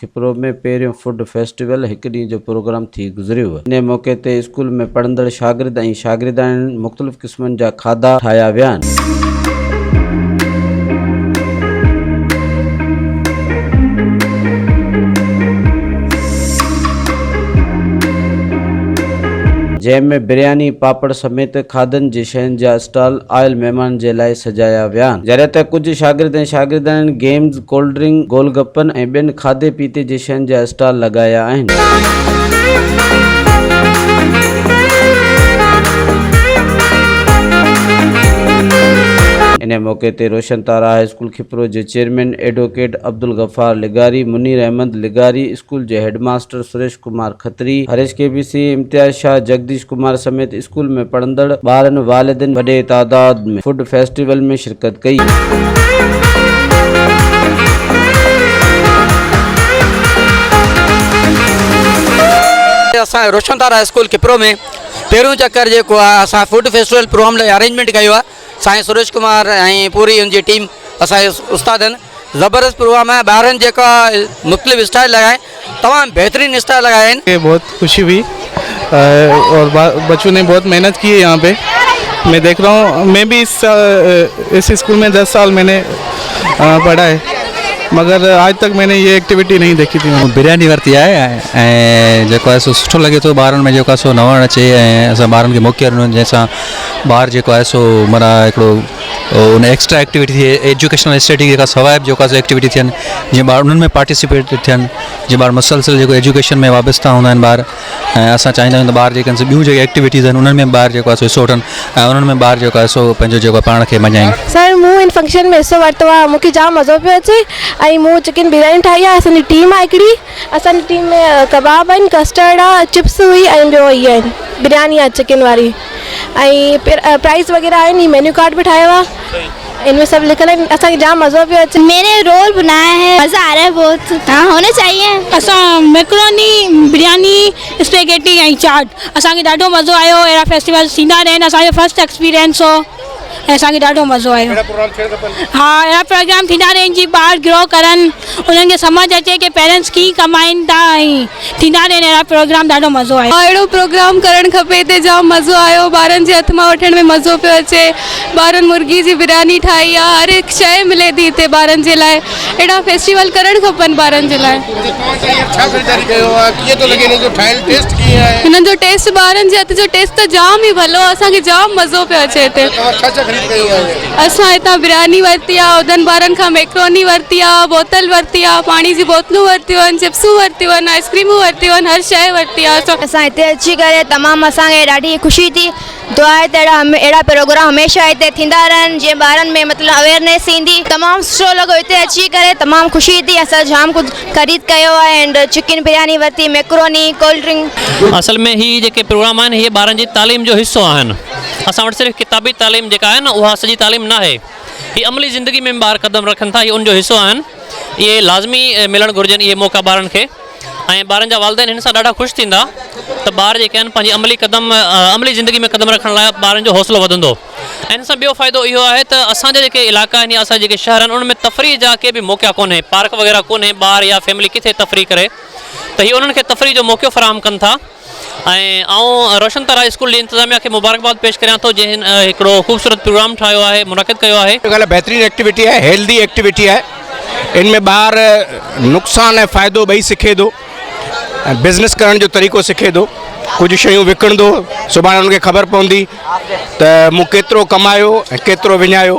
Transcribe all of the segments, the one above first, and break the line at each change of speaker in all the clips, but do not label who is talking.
کپرو ۾ پهريون food festival هڪ ڏينهن جو پروگرام ٿي گذريو. انهيء موقعي تي اسڪول ۾ پڙهندڙ شاگرد ۽ شاگردياڻين مختلف قسمن جا کاڌا ٺاهيا ويا. جنهن ۾ برياني، پاپڙ سميت کاڌن جي شين جا اسٽال آيل مهمانن جي لاء سجايا ويا. جڏهن ته ڪجهه شاگرد ۽ شاگردياڻين گيمز، ڪولڊ ڊرنڪ، گول گپن ۽ ٻين کاڌي پيتي جي شين جا اسٽال لڳايا آهن. انهيء موقعي تي روشن تارا هاء اسڪول کپرو جي چيئرمين ايڊووڪيٽ عبدالغفار لغاري، منير احمد لغاري، اسڪول جي هيڊ ماستر سريش ڪمار کتري، هريش ڪي بي سي، امتياز شاهه، جگديش ڪمار سميت اسڪول ۾ پڙهندڙ ٻارن، والدين وڏي تعداد ۾ فوڊ فيسٽيول ۾ شرڪت ڪئي. شرڪت
ڪئي. اسان روشن تارا اسڪول کپرو ۾ پهريون چڪر جيڪو آهي اسان فوڊ فيسٽيول پروگرام لاء ارينجمينٽ ڪيو آهي سائين سروش ڪمار ۽ پوري ان جي ٽيم اسان جي استادن زبردست پروگرام آهي ٻارن جيڪا مختلف اسٽائل لڳائي تمام بهترين اسٽائل لڳايا آهن. کي بهت خوشي هئي
اور بچو ني بهت محنت ڪي هي يهان پي مين ديک رها هون مين بي اس اس اسڪول مين دس سال مين پڙها هي مگر آج تڪ مين يه ايڪٽيويٽي نهي ديکي ٿي مون برياني ورتي آهي
۽ جيڪو آهي سو سٺو لڳي ٿو ٻارن ۾ جيڪو آهي سو نوڻ اچي ۽ اسان ٻارن کي موقعو ڏنو جنهن سان ٻار جيڪو آهي سو معنيٰ هڪڙو ان ايڪسٽرا ايڪٽيوٽي ٿئي ايجوڪيشنل اسٽيٽي جيڪا سواء بي جيڪا ايڪٽيوٽي ٿين جي ٻار انهن ۾ پارٽيسپيٽ ٿين جي ٻار مسلسل جيڪو ايجوڪيشن ۾ وابسته هوندا آهن ٻار ۽ اسان چاهيندا آهيون ته ٻار جيڪي سو ٻيون جيڪي ايڪٽيوٽيز آهن انهن ۾ ٻار جيڪو سو وٺن ۽ انهن ۾ ٻار جيڪو سو پنهنجو جيڪو پاڻ کي مڃائين سر مون هن فنڪشن
۾ حصو ورتو آهي مونکي جام مزو پيو اچي ۽ مون چڪن برياني ٺاهي آهي اسان جي ٽيم آهي هڪڙي اسان جي ٽيم ۾ ڪباب آهن ڪسٽرڊ آ چپس هئي ۽ ٻيو هي آهن برياني آ چڪن واري ۽ پرائز وغيره آهن هي مينيو ڪارڊ به ٺاهيو آ ان ۾ سڀ لکيل آهن اسان کي جام مزو پيو اچي مين ني رول بنايا
هي مزا آ رها هي بهت ها هونا چاهيي اسان ميڪروني
برياني اسپيگيٽي ۽ چاٽ اسان کي ڏاڍو مزو آيو اهڙا فيسٽيول ٿيندا رهن اسان جو فرسٽ ايڪسپيرينس هو. ۽ اسان کي ڏاڍو مزو آيو. اهڙا پروگرام ٿيڻ کپن. ها اهڙا پروگرام ٿيندا رهن جي ٻار گرو ڪرن انهن کي سمجھ اچي ڪي پيرنٽس ڪيئن ڪمائين ٿا ۽ ٿيندا رهن اهڙا پروگرام ڏاڍو مزو آيو. ها اهڙو پروگرام ڪرڻ
کپي هتي جام مزو آيو ٻارن جي هٿ مان وٺڻ ۾ مزو پيو اچي ٻارن مرغي جي برياني ٺاهي آ هر هڪ شئي ملي ٿي هتي ٻارن جي لاء. اهڙا فيسٽيول ڪرڻ کپن ٻارن جي لاء. هنن جو ٽيسٽ ٻارن جي هٿ جو ٽيسٽ ته جام ئي ڀلو آهي اسان کي جام مزو پيو اچي هتي اسان هتان برياني ورتي آهي عهدن ٻارن کان ميڪروني ورتي آهي بوتل ورتي آهي پاڻي جي بوتلون ورتيون آهن چپسون ورتيون آهن آئسڪريمون ورتيون آهن هر شئي ورتي آهي اسان اسان هتي اچي ڪري
تمام اسان کي ڏاڍي خوشي ٿي دعا آهي ته اهڙا پروگرام هميشه هتي ٿيندا رهن جيئن ٻارن ۾ مطلب اويرنيس ايندي. تمام سٺو لڳو هتي اچي ڪري تمام خوشي ٿي اسان جام ڪجھ خريد ڪيو آهي اينڊ چڪن برياني ورتي ميڪروني ڪولڊ ڊرنڪ. اصل ۾ هي جيڪي
پروگرام آهن اهي ٻارن جي تعليم جو حصو آهن اسان وٽ صرف ڪتابي تعليم جيڪا آهي نه اها سڄي تعليم ناهي هي عملي زندگي ۾ ٻار قدم رکن ٿا هي ان جو حصو آهن اهي لازمي ملڻ گهرجن اهي موقعا ٻارن کي. ۽ ٻارن جا والدين هن سان ڏاڍا خوش ٿيندا ته ٻار جيڪي آهن پنهنجي عملي قدم عملي زندگي ۾ قدم رکڻ لاء ٻارن جو حوصلو وڌندو ۽ هن سان ٻيو فائدو اهو آهي ته اسان جا جيڪي علائقا آهن يا اسان جا جيڪي شهر آهن ان ۾ تفريح جا ڪي به موقعا ڪونهي پارڪ وغيره ڪونهي ٻار يا فيملي ڪٿي تفريح ڪري ته هي انهن کي تفريح جو موقعو فراهم ڪن ٿا ۽ آئون روشن تارا اسڪول جي انتظاميا کي مبارڪباد پيش ڪريان ٿو جنھن ھڪڙو خوبصورت پروگرام ٺاھيو آھي منعقد ڪيو آھي. اھا ڳالھ بھترين ايڪٽيوٽي
آھي ھيلڌي ايڪٽيوٽي آھي ان ۾ ٻار نقصان ۽ فائدو ٻئي سکي ٿو ۽ بزنس ڪرڻ جو طريقو سکي ٿو ڪجھ شيون وڪڻندو سڀاڻي ان کي خبر پوندي ته مون ڪيترو ڪمايو ۽ ڪيترو وڃايو.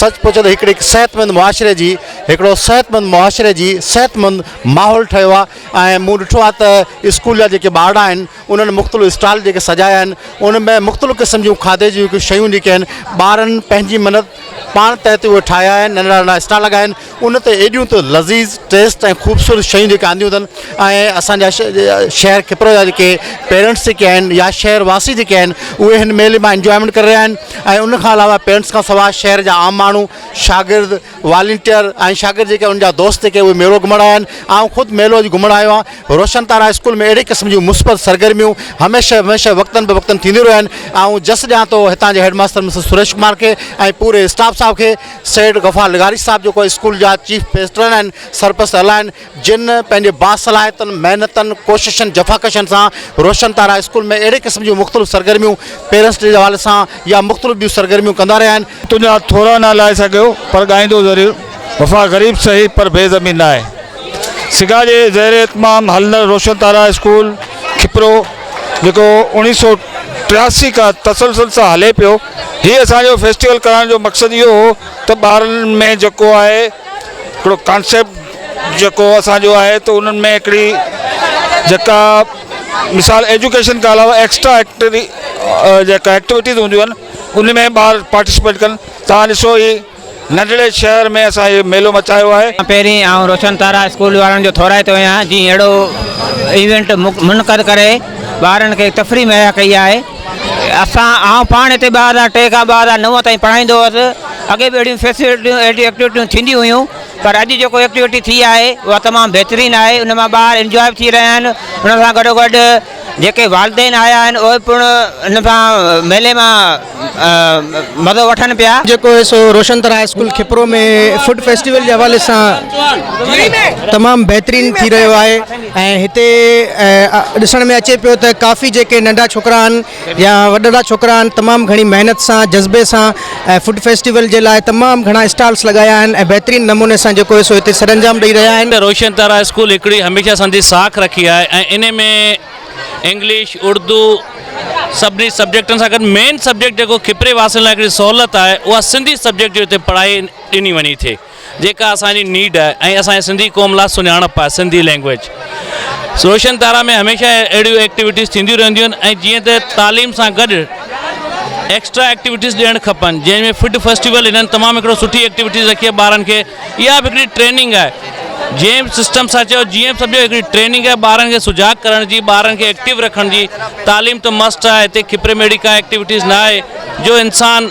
سچ پچ ته هڪڙي صحتمند معاشري جي هڪڙو صحتمند معاشري جي صحتمند ماحول ٺهيو آهي ۽ مون ڏٺو آهي ته اسڪول جا جيڪي ٻارڙا آهن انهن مختلف اسٽال جيڪي سجايا آهن ان ۾ مختلف قسم جون کاڌي جون شيون جيڪي آهن ٻارن پنهنجي محنت پاڻ تحت اهي ٺاهيا آهن ننڍا ننڍا اسٽال لڳايا آهن ان تي ايڏيون ته لذيذ ٽيسٽ ۽ خوبصورت شيون جيڪي آنديون اٿن ۽ اسان جا شهر کپرو جا جيڪي پيرنٽس جيڪي آهن يا شهر واسي جيڪي آهن اهي هن ميلي مان انجوائمينٽ ڪري رهيا آهن ۽ ان کان علاوه پيرنٽس کان سواء شهر جا عام ماڻهو شاگرد والنٽيئر ۽ شاگرد جيڪي ان جا دوست جيڪي اهي ميلو گهمڻ آيا آهن آئون خود ميلو اڄ گهمڻ آيو آهيان روشن تارا اسڪول ۾ اهڙي قسم جون مثبت سرگرميون هميشه هميشه وقتن به وقتن ٿينديون رهن آئون جس ڏيان ٿو هتان جي head master mister Suresh Kumar کي ۽ پوري اسٽاف صاحب کي سيد غفار لغاري صاحب جيڪو اسڪول جا چيف پيسٽرن آهن سرپرست اعليٰ آهن جن پنهنجي باصلاحيتن محنتن ڪوششن جفاڪشن سان روشن تارا اسڪول ۾ اهڙي قسم جون مختلف سرگرميون پيرنٽس ڊي جي حوالي سان يا مختلف ٻيون سرگرميون ڪندا رهيا آهن. تنهنجا ٿورا نه
لائي سگهيو پر ڳائيندو ضرور وفا غريب سهي پر بي زمين ناهي سگا جي زير اهتمام هلندڙ روشن تارا اسڪول کپرو جيڪو اوڻيهه سؤ ٽياسي کان تسلسل سان هلي پيو هي اسان جو فيسٽيول ڪرائڻ جو مقصد اهو هو ته ٻارن ۾ جيڪو آهي هڪڙو ڪانسيپٽ جيڪو اسان جو آهي ته انهن ۾ هڪڙي جيڪا مثال ايجوڪيشن کان علاوه ايڪسٽرا ايڪٽري جيڪا ايڪٽيوٽيز هونديون آهن ان ۾ ٻار پارٽيسپيٽ ڪن تان ڏسو هي ننڍڙي شهر ۾ اسان هي ميلو مچايو آهي. پهرين آئون روشن
تارا اسڪول وارن جو ٿورائتو آهيان جن اهڙو ايونٽ منعقد ڪري ٻارن کي تفريح مهيا ڪئي آهي اسان آئون پاڻ هتي ٻه هزار ٽي کان ٻه هزار نو تائين پڙهائيندو هوس اڳي به اهڙيون فيسلٽيون اهڙيون ايڪٽيوٽيون ٿينديون هيون پر اڄ جيڪو ايڪٽيوٽي ٿي آهي اها تمام بهترين آهي ان مان ٻار انجوائي به ٿي رهيا آهن ان سان گڏو گڏ جيڪي والدين آيا آهن اهي پڻ هن سان ميلي مان مزو وٺن پيا. جيڪو هي سو روشن
تر high school Khipro ۾ food festival جي حوالي سان تمام بهترين ٿي رهيو آهي ۽ هتي ڏسڻ ۾ اچي پيو ته ڪافي جيڪي ننڍا ڇوڪرا آهن يا وڏڙا ڇوڪرا آهن تمام گهڻي محنت سان جذبي سان ۽ فوڊ فيسٽيول جي لاء تمام گهڻا اسٽالس لڳايا آهن ۽ بهترين نموني سان جيڪو هي سو هتي سرانجام ڏئي رهيا آهن. روشن تارا اسڪول هڪڙي
هميشه سندي ساک رکي آهي ۽ انهي ۾ انگلش، اردو سڀني سبجيڪٽن سان گڏ مين سبجيڪٽ جيڪو کپري واسين لاء هڪڙي سهولت آهي اها سنڌي سبجيڪٽ جي هتي پڙهائي ڏني وڃي ٿي. جيڪا اسان جي نيڊ آهي ۽ اسان جي سنڌي قوم لا سڃاڻپ آهي سنڌي لينگويج روشن تارا ۾ هميشه اهڙيون ايڪٽيوٽيز ٿينديون رهنديون آهن ۽ جيئن ته تعليم سان گڏ ايڪسٽرا ايڪٽيوٽيز ڏيڻ کپن جنهن ۾ فڊ فيسٽيول هنن تمام هڪڙو سٺي ايڪٽيوٽيز رکي ٻارن کي اها به هڪڙي ٽريننگ آهي جنهن سسٽم سان چيو جيئن سمجھو هڪڙي ٽريننگ آهي ٻارن کي سجاگ ڪرڻ جي ٻارن کي ايڪٽيو رکڻ جي تعليم ته مسٽ آهي هتي کپري ميڙي ڪا ايڪٽيوٽيز نه آهي جو انسان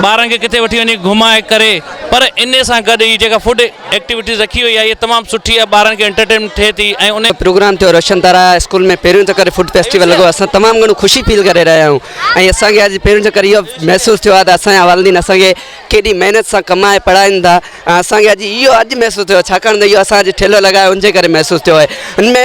ٻارن کي ڪٿي وٺي وڃي گهمائي ڪري پر ان سان گڏ هي جيڪا فوڊ ايڪٽيوٽيز رکي وئي آهي هي تمام سٺي آهي ٻارن کي انٽرٽينمينٽ ٿئي ٿي ۽ ان پروگرام ٿيو رشن تارا
اسڪول ۾ پهريون چڪر فوڊ فيسٽيول لڳو اسان تمام گهڻو خوشي فيل ڪري رهيا آهيون ۽ اسان کي اڄ پهريون چڪر اهو محسوس ٿيو آهي ته اسان جا والدين اسان کي ڪيڏي محنت سان ڪمائي پڙهائين ٿا ۽ اسان کي اڄ اهو اڄ محسوس ٿيو آهي ڇاڪاڻ ته اهو اسان اڄ ٺيلهو لڳايو ان جي ڪري محسوس ٿيو آهي ان ۾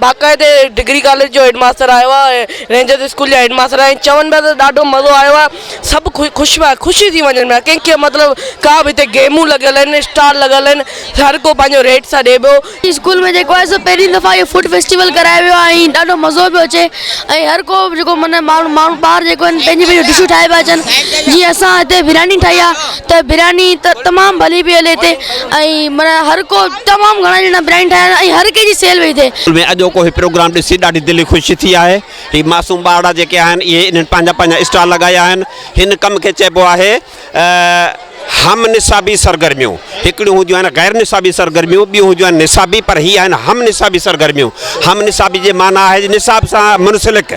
باقاعدي ڊگري ڪاليج جو هيڊ ماستر آيو آ رينجرس اسڪول جا هيڊ ماستر آهن چون پيا ته ڏاڍو مزو آيو آ سڀ کي خوش پيا خوشي ٿي وڃن پيا ڪنهن کي مطلب ڪا به هتي گيمون لڳل آهن اسٽال لڳل آهن هر ڪو پنهنجو ريٽ سان ڏي پيو اسڪول ۾ جيڪو آهي سو
پهرين دفعا اهو فوڊ فيسٽيول ڪرايو ويو آهي ۽ ڏاڍو مزو پيو اچي ۽ هر ڪو جيڪو معنيٰ ماڻهو ٻار جيڪو آهن پنهنجي پنهنجي ڊشون ٺاهي پيا اچن جيئن اسان هتي برياني ٺاهي آ ته برياني ته تمام ڀلي پئي هلي هتي ۽ معنيٰ هر ڪو تمام گهڻا ڄڻا برياني ٺاهيا ۽ هر ڪنهن جي سيل وئي هتي. ۾ اڄوڪو هي پروگرام ڏسي
ڏاڍي دلي خوشي ٿي آهي هي معصوم ٻارڙا جيڪي آهن اهي انهن پنهنجا پنهنجا اسٽال لڳايا آهن هن ڪم کي چئبو آهي هم نصابي سرگرميون هڪڙيون هونديون آهن غير نصابي سرگرميون ٻيون هونديون آهن نصابي پر هي آهن هم نصابي سرگرميون هم نصابي جي معنيٰ آهي نصاب سان منسلڪ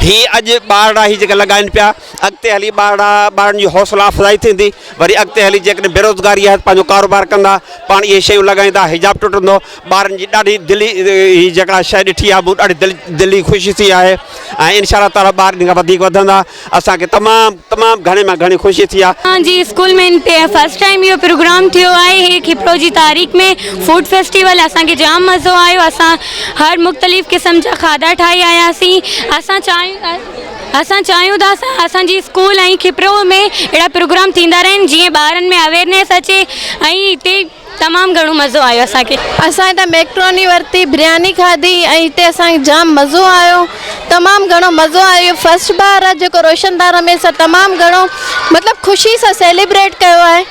هي اڄ ٻارڙا هي جيڪي لڳائن پيا اڳتي هلي ٻارڙا ٻارڙن جي حوصلا افزائي ٿيندي وري اڳتي هلي جيڪڏهن بيروزگاري آهي ته پنهنجو ڪاروبار ڪندا پاڻ اهي شيون لڳائيندا حجاب ٽٽندو ٻارن جي ڏاڍي دلي هي جيڪا شيء ڏٺي آهي مون ڏاڍي دل دلي خوشي ٿي آهي ۽ انشاء الله تعالٰي ٻار ان کان وڌيڪ وڌندا اسانکي تمام تمام گهڻي مان گهڻي خوشي ٿي آهي اسان جي اسڪول ۾
فرسٽ ٽائيم اهو پروگرام ٿيو آهي هي کپرو جي تاريخ ۾ فوڊ فيسٽيول اسان کي جام مزو آيو اسان هر مختلف قسم جا کاڌا ٺاهي آياسين اسان چاهيون اسان
چاهيون ٿا ته اسان جي اسڪول ۽ کپرو ۾ اهڙا پروگرام ٿيندا رهن جيئن ٻارن ۾ اويرنيس اچي ۽ هتي تمام گهڻو مزو آيو اسان کي. اسان هتان ميڪروني
ورتي برياني کاڌي ۽ هتي اسان کي جام مزو آيو تمام گهڻو مزو آيو اهو فرسٽ بار آهي جيڪو روشن دان رميس تمام گهڻو مطلب خوشي سان سيليبريٽ ڪيو آهي.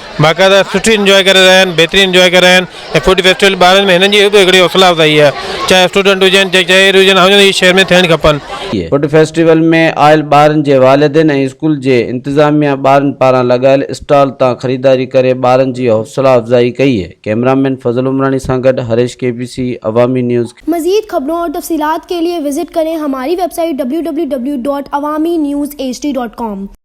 باقاعده سٺي انجواء ڪري رهيا آهن بهترين انجواء ڪري رهيا آهن ۽ فوڊ فيسٽيول ٻارن ۾ هنن جي به هڪڙي حوصلا افزائي آهي چاهي اسٽوڊنٽ هجن چاهي شهري هجن هاون جي شهر ۾ ٿيڻ کپن. فوڊ فيسٽيول ۾
آيل ٻارن جي والدين ۽ اسڪول جي انتظاميا ٻارن پاران لڳايل اسٽال تان خريداري ڪري ٻارن جي حوصلا افزائي ڪئي ڪئميرا مين فضل عمراڻي سان گڏ هريش ڪي بي سي عوامي نيوز کي. مزيد خبرون اور
تفصيلات کے لیے وزٹ کریں ہماری ویب سائٹ www.awaminews hd.com.